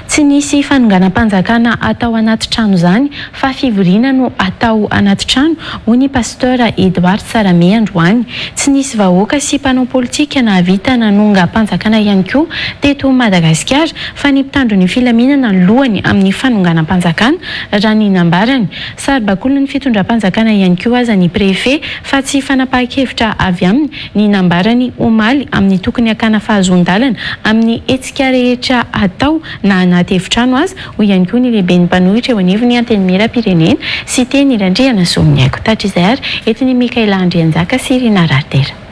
Tsy nisy fanonganam-panjakana atao anaty trano izany fa fivoriana no atao anaty trano, hoy ny Pasteur Edouard Tsarame androany. Tsy nisy vahoaka sy mpanao politika nahavita nanongam-panjakana ihany koa teto Madagasikara fa ny mpitandro ny filaminana no lohany amin'ny fanonganam-panjakana, raha ny nambarany. Saribakolin'ny fitondram-panjakana ihany koa aza ny Préfet fa tsy fanapahan-kevitra avy aminy ny nambarany omaly amin'ny tokony hakana fahazoan-dalana amin'ny hetsika rehetra atao na anaty efitrano aza, hoy ihany koa ny lehiben'ny mpanohitra eo anivon'ny Antenimierampirenena, Siteny Randrianasoavignaiky. Tratry izay ary eto ny Mickaëla Andrianjaka sy Rinah Raritera.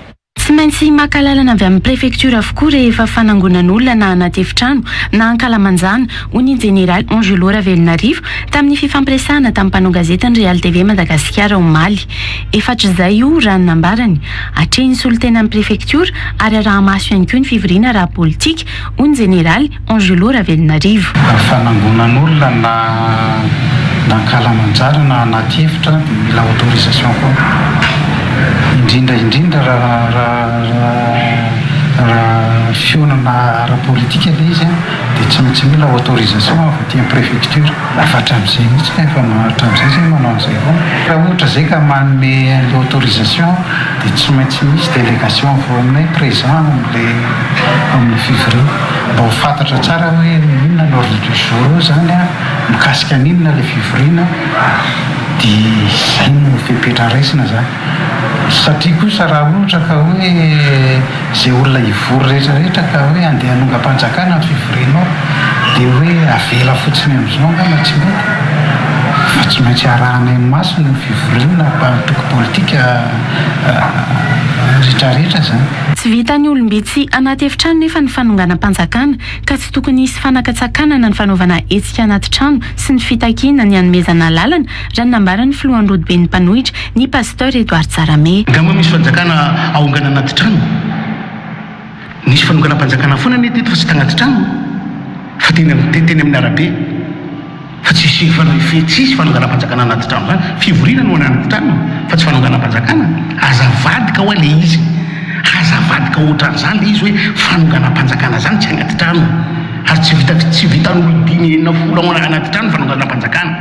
Tsy maintsy maka alalana avy amin'ny prefektiora avokoa rehefa fanangonan'olona na anaty efitrano na ankalamanjana, hoy ny jeneraly Angelo Ravelonarivo tamin'ny fifampiresahana tamin'ny mpanao gazety ny Real TV Madagasikara omaly. Efatr'izay io, raha ny nambarany. Atrehin'ny solontenan'ny prefektiora ary araha-maso ihany koa ny fivoriana ara-politika, hoy ny jeneraly Angelo Ravelonarivo. Raha fanangonan'olona na nankalamanjara na anaty efitra dia mila autorisation koa. Indrindra indrindra raha raha raha fihaonana ara-politika ilay izy dia tsy maintsy mila autorisation avy aty am-prefektiora. Rafa hatramizay mihitsy ka efa manao hatramizay izay manao an'izay foana. Raha ohatra izay ka manome an'ilay autorisation dia tsy maintsy misy délégation avy ao aminay présent amin'ilay amin'ny fivoriana mba ho fantatra tsara hoe inona ny ordre du jour eo izany an, mikasika an'inona ilay fivoriana dia izay no fepetra raisina izany. Satria kosa raha ohatra ka hoe izay olona hivory rehetra rehetra ka hoe andeha hanongam-panjakana ny fivorianao dia hoe avela fotsiny amin'izao angamba tsy mety fa tsy maintsy arahana eny masina ny fivoriana mpanotroko politika rehetra rehetra izany. Tsy vitan'ny olom-bitsy anaty efitrano nefa ny fanonganam-panjakana ka tsy tokony hisy fanakatsakanana ny fanaovana hetsika anaty trano sy ny fitakiana ny hanomezana alalana raha ny nambaran'ny filohan'ny rodoben'ny mpanohitra, ny Pasteur Edouard Tsarame. Angamba misy fanjakana aongana anaty trano. Nisy fanonganam-panjakana foana anie teto fa tsy tanaty trano fa teny amin'ny teny amin'ny arabe fa tsisy fanahy tsisy fanonganam-panjakana anaty trano zany. Fivoriana no anaty trano fa tsy fanonganam-panjakana. Aza avadika hoa le izy. Aza avadika ohatran'izany le izy hoe fanonganam-panjakana zany tsy anaty trano ary tsy vita tsy vitan'olon-dimy enina folo ao anaty trano ny fanonganam-panjakana.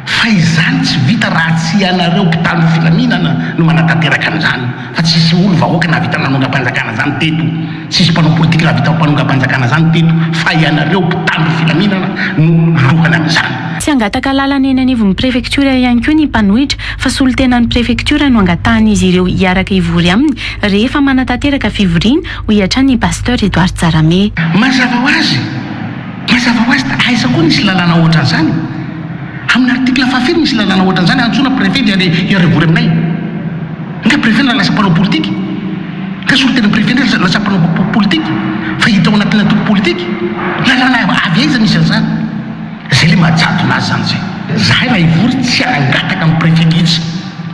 Fa izany tsy vita raha tsy ianareo mpitandro filaminana no manatanteraka an'izany. Fa tsisy olo vahoaka nahavita nanongam-panjakana izany teto. Tsisy mpanao politika nahavita mpanongam-panjakana izany teto. Fa ianareo mpitandro filaminana no lohany amin'izany. Tsy hangataka lalana eny anivon'ny prefektiora ihany koa ny mpanohitra fa solontenan'ny prefektiora no angatahan'izy ireo hiaraka hivory aminy rehefa manatanteraka fivoriana, hoy hatrany i Pasteur Edouard Jaramé. Mazava ho azy, Mazava ho azy dia aiza koa nisy lalàna hoatran'izany? Amin'ny article fahafiry misy lalàna hoatran'izany hantsoina préfet dia le hiara-hivory aminay? Nga préfet no lasa mpanao politika? Nga solontenan'ny préfet indray lasa mpanao politika fa hita ao anatin'ny antoko politika? Lalàna avy aiza misy an'izany? Zay le mahajadona azy zany zay. Zahay raha hivory tsy hangataka amin'ny préfet mihitsy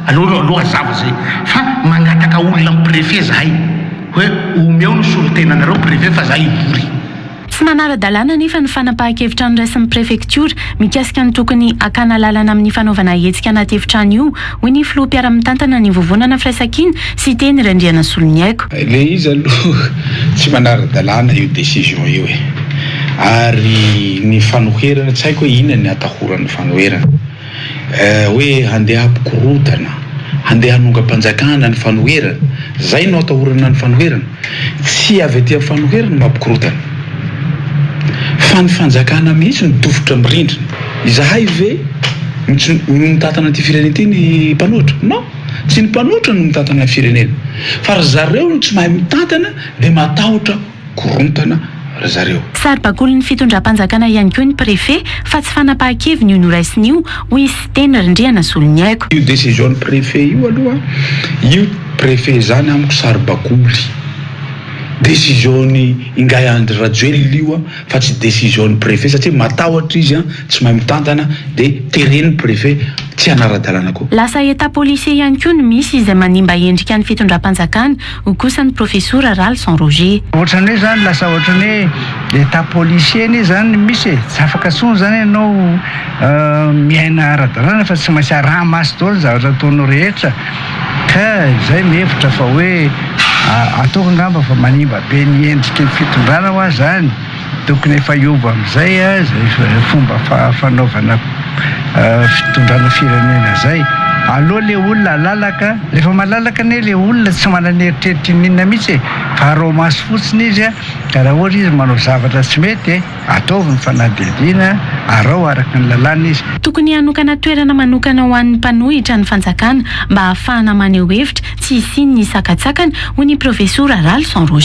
aleo aloha hazava zay fa mangataka olona amin'ny préfet zahay hoe omeo ny solontenanareo préfet fa zahay hivory. Tsy manara-dalàna anefa ny fanapahan-kevitra noraisin'ny prefektiora mikasika ny tokony hakana lalana amin'ny fanaovana hetsika anaty efitrano io, hoy ny filoha mpiara-mitantana ny Vovonana Firaisankina sy Teny Randrianasoloniaiko. Le izy aloha tsy manara-dalàna io décision io e! Ary ny fanoherana, tsy haiko hoe inona ny atahorany fanoherana. Eh hoe handeha hampikorodana, handeha hanongam-panjakana ny fanoherana, zay no atahorana ny fanoherana? Tsy avy aty amin'ny fanoherana no mampikorodana, fa ny fanjakana mihitsy no dofotra amin'ny rindrina. Izahay ve no mitantana ity firenena ity ny mpanohitra? Non, tsy ny mpanohitra no mitantana ny firenena, fa ry zareo no tsy mahay mitantana dia matahotra. korontana ry zareo. Saribakolin'ny fitondram-panjakana ihany koa ny Prefe fa tsy fanapahan-keviny io noraisiny io, hoy Siteny Rindrianasoloniaiko. Io decision-n'ny Prefe io aloha, io Prefe izany amiko saribakoly. Decision-n'i Ingahy Andry Rajoelina io fa tsy decision-n'ny Prefe satria matahotra izy tsy mahay mitantana dia teren'ny Prefe tsy hanara-dalàna koa. Lasa Etat policier ihany koa no misy izay manimba endrika ny fitondram-panjakana, Hoy kosa ny Profesora Ralison Roger. Ohatrany hoe zany lasa ohatrany hoe etat policier anie zany no misy e, tsy afaka tsony zany ianao miaina ara-dalàna fa tsy maintsy araha-maso daholo ny zavatra ataonao rehetra ka izay ny hevitra fa hoe ataoko angamba fa manimba be ny endriky ny fitondrana hoa zany. Tokony efa hiova amin'izay izay fomba fanaovana fitondrana firenena izay. Aleo ilay olona halalaka, rehefa malalaka anie ilay olona tsy manana eritreritra ininona mihitsy e, fa araho maso fotsiny izy ka raha ohatra izy manao zavatra tsy mety, ataovy ny fanadihadiana, araho araka ny lalàna izy. Tokony hanokana toerana manokana ho an'ny mpanohitra ny fanjakana mba hahafahana maneho hevitra tsy hisian'ny sakantsakana, hoy ny profesora Ralison Roger.